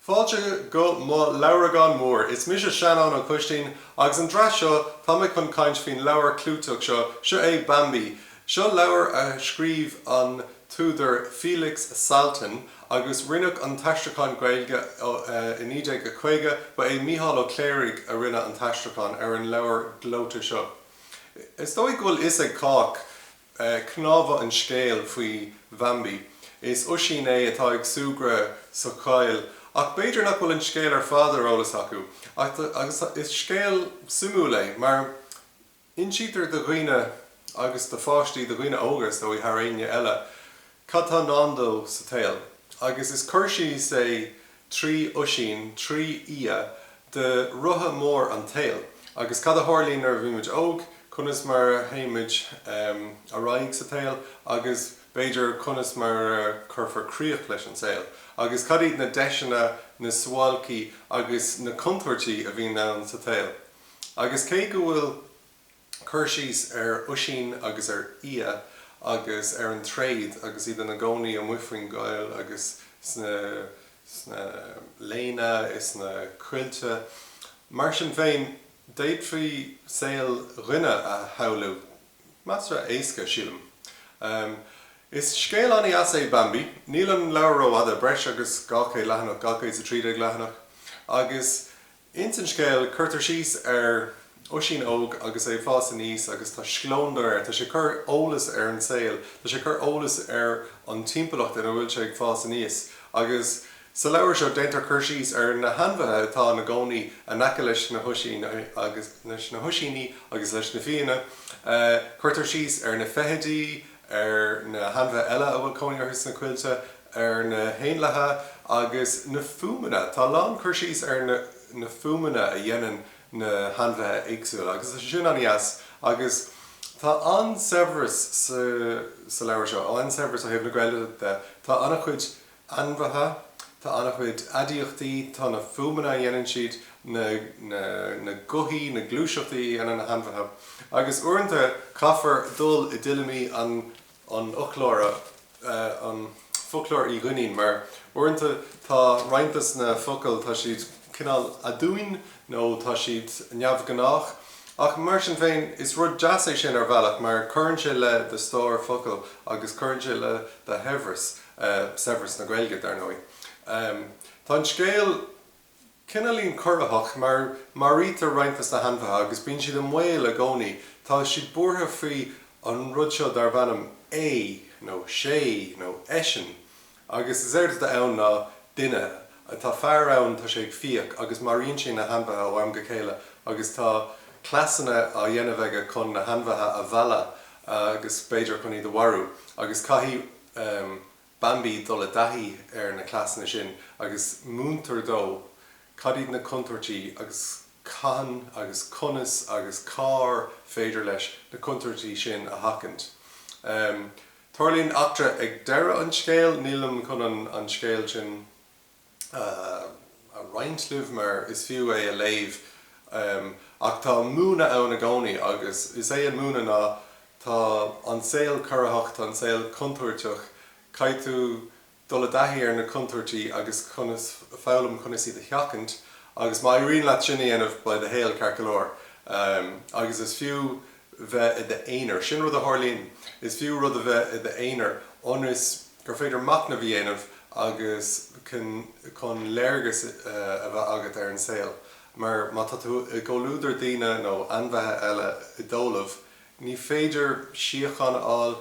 Fáilte go mo leabhragán mór. Is mise Seanán Ó Coistín agus an dréacht seo tá mé chun caint faoin leabhar clúiteach seo. Seo é Bambi. Seo leabhar a scríobh an t-údar Felix Salten agus rinneadh an t-aistriúchán Gaeilge i 1950. Ba é Mícheál Ó Cléirigh a rinne an t-aistriúchán ar an leabhar gleoite seo. Is dóigh go bhfuil a fhios ag cách. Cnámha an scéil faoi Bhambi, is oisín é atá ag súgradh sa choill. Ach b'fhéidir nach bhfuil an scéal ar fad ar eolas acu. Agus is scéal suimiúil é, mar insítear do dhaoine agus do pháistí, do dhaoine óga is dóigh thar éinne eile, Cad tá i ndán dó sa tsaol? Agus is cur síos é trí oisín, trí fhia de rotha mór an tsaoil agus cad a tharlaíonn nuair a bhímid óg, conas mar a théimid ar aghaidh sa tsaol agus, b'fhéidir, conas mar a chuirfear críoch leis an saol. Agus cad iad na deiseanna, na suáilcí agus na contúirtí a bhíonn ann sa tsaol. Agus cé go bhfuil. cur síos ar oisín agus ar fhia agus ar an tréad agus iad ina gcónaí amuigh faoin gcoill agus sna léana is na coillte. Mar sin féin, d'fhéadfaí saol an duine a shamhlú. Measartha éasca, sílim. Is scéal an-deas é Bambi. Níl an leabhar rófhada, breis agus 200 leathanach, 213 leathanach, agus Ins an scéal, cuirtear síos ar oisín óg agus é ag fás aníos agus tá scleondar air. Tá sé ag cur eolas ar an saol, tá sé ag cur eolas ar an timpeallacht ina bhfuil sé ag fás aníos. Agus sa leabhar seo, déantar cur síos ar na hainmhithe atá ina gcónaí in aice leis an oisín agus leis na hoisíní agus leis na fianna. Cuirtear síos ar na feithidí, ar na hainmhithe eile a bhfuil cónaí orthu sna coillte. ar na héanlaithe agus na fuaimeanna. Tá a lán cur síos ar na fuaimeanna a dhéanann na hainmhithe éagsúla agus tá sé sin an-deas agus tá an-saibhreas sa leabhar seo, an-saibhreas ó thaobh na Gaeilge de. Tá an-chuid ainmhithe, tá an-chuid aidiachtaí, tá na fuaimeanna a dhéanann siad, na gothaí, na gluaiseachtaí a dhéanann na hainmhithe agus uaireanta caithfear dul i dtuilleamaí an an fhoclóra, an Foclóir Uí Dhuinnín, mar uaireanta tá roinnt dos na focail, tá siad cineál aduain nó tá siad neamhghnách. Ach mar sin féin, is rud deas é sin ar bhealach mar cuireann sé le do stór focal agus cuireann sé le do shaibhreas, saibhreas na Gaeilge, dar ndóigh. Tá an scéal. Cineálín corraitheach, mar maraítear roinnt des na hainmhithe agus bíonn siad i mbaol i gcónaí. Tá siad buartha faoi an rud seo darb ainm É, nó Sé, nó Eisean. Agus is éard atá ann ná duine. Tá fear ann, tá sé ag fiach agus maraíonn sé na hainmhithe ó am go chéile agus tá cleasanna á dhéanamh aige chun na hainmhithe a mhealladh agus b'fhéidir chun iad a mharú agus caithfidh Bambi dul i dtaithí ar na cleasanna sin agus múintear dó cad iad na contúirtí agus cathain agus conas agus cár féidir leis na contúirtí sin a sheachaint. Tarlaíonn eachtra ag deireadh an scéil, nílim chun an scéal sin a roinnt libh mar is fiú é a léamh ach tá múineadh ann i gcónaí agus is é an múineadh ná tá an saol corraitheach, tá an saol contúirteach, caithfidh tú dul i dtaithí ar na contúirtí agus conas, foghlaim conas iad a sheachaint agus má éiríonn leat sin a dhéanamh, beidh do shaol ceart go leor agus is fiú bheith i d'aonar, sin rud a tharlaíonn, is fiú rud a bheith i d'aonar ionas. gur féidir machnamh a dhéanamh agus chun léargas a bheith agat ar an saol mar má tá tú i gcomhluadar daoine nó ainmhithe eile i dtólamh ní féidir síocháin a fháil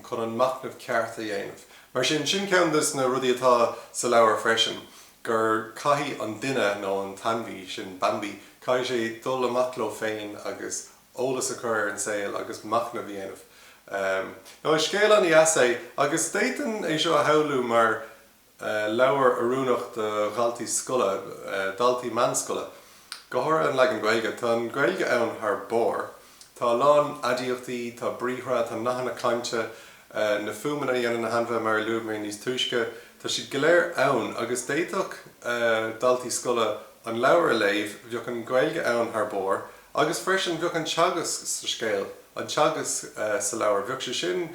chun an machnamh ceart a dhéanamh. Mar sin, sin ceann des na rudaí atá sa leabhar freisin, gur caithfidh an duine nó an t-ainmhí, sin Bambi, caithfidh sé dul amach leo féin agus eolas a chur ar an saol agus machnamh a dhéanamh. Now is scéal an-deas é agus d'fhéadfainn é seo a shamhlú mar leabhar oiriúnach do dhaltaí scoile, daltaí meánscoile. Go háirithe an leagan Gaeilge. Tá an Ghaeilge ann thar barr. Tá a lán aidiachtaí, tá briathra, tá nathanna cainte, na fuaimeanna a dhéanann na hainmhithe mar a luaigh mé níos túisce, tá siad go léir ann agus d'fhéadfadh daltaí scoile an leabhar a léamh, bheadh an Ghaeilge ann thar barr. Agus freisin, bheadh an teagasc sa scéal, an teagasc sa leabhar, bheadh sé sin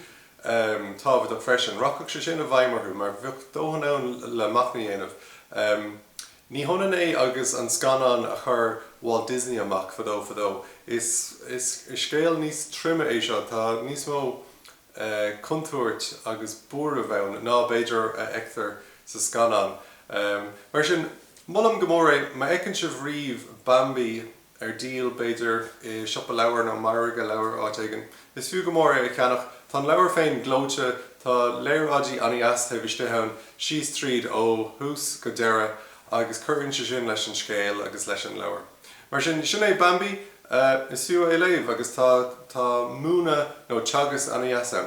tábhachtach freisin, rachadh sé sin i bhfeidhm orthu mar bheadh dóthain ann le machnamh a dhéanamh. Ní hionann é agus an scannán a chuir Walt Disney amach fadó fadó, is scéal níos troime é seo, tá níos mó contúirt agus buaireamh ann ná, b'fhéidir, a fheictear sa scannán. Mar sin, molaim go mór é. Má fheiceann sibh riamh Bambi ar díol, b'fhéidir, i siopa leabhar nó margadh leabhar áit éigin, is fiú go mór é a cheannach. Tá an leabhar féin gleoite, tá léaráidí an-deas taobh istigh ann, síos tríd ó thús go deireadh, agus cuireann sé sin leis an scéal agus leis an leabhar. Mar sin, sin é Bambi. Is fiú é a léamh agus tá tá múineadh nó teagasc an-deas ann.